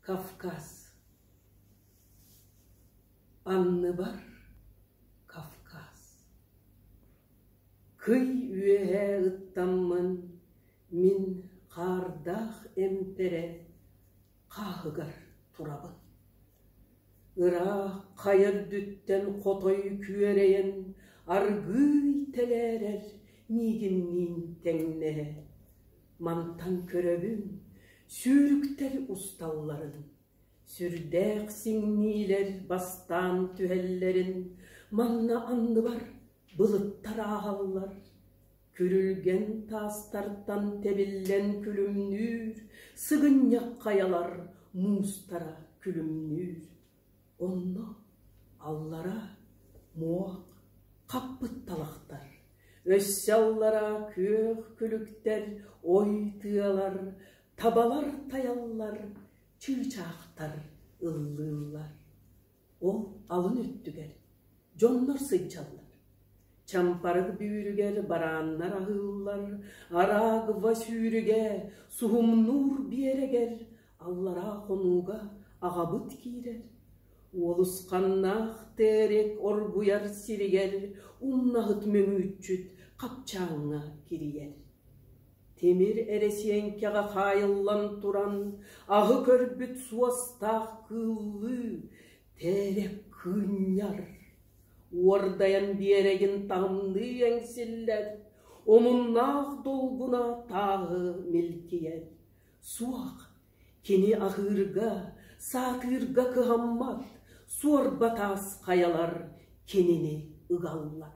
Кавказ Анныбар Кавказ Кый үөһээ ыттаммын мин хаардаах эмтэрэ хааһыгар турабын Ыраах хайа үрдүттэн хотой күөрэйэн аргыый тэлээрэр миигинниин тэҥнэһэ Мантан көрөбүн, сүүрүктэр усталларын, сүрдээх сиҥниилэр бастаан түһэллэрин, манна анныбар былыттар ааһаллар, күрүлгэн таастартан тэбиллэн күлүмнүүр, сыгынньах хайалар муустара күлүмнүүр Онно аллара муох, хаппыт талахтар, өссө аллара күөх күлүктэр, ой тыалар, табалар тайаллар, чыычаахтар ыллыыллар. Ол алын өттүгэр дьоннор сыдьаллар. Чампарык бүүрүгэр барааннар аһыыллар, араагва сүүрүгэ, суһумнуур биэрэгэр Аллараа хонууга аҕабыт киирэр, Уолусханнаах Тээрик оргуйар сиригэр умнаһыт мөҥүүччүт хапчааҥҥа кирийэр. Тимир эрэсиэҥкэҕэ хаайыллан туран, аһы көрбүт суостаах кыыллыы Тээрик кыынньар. Уордайан биэрэгин таҥныы эҥсиллэр, омуннаах долгуна тааһы милкийэр. Суох, кини аһыырга, саатыырга кыһаммат, суорба таас хайалар кинини ыгаллар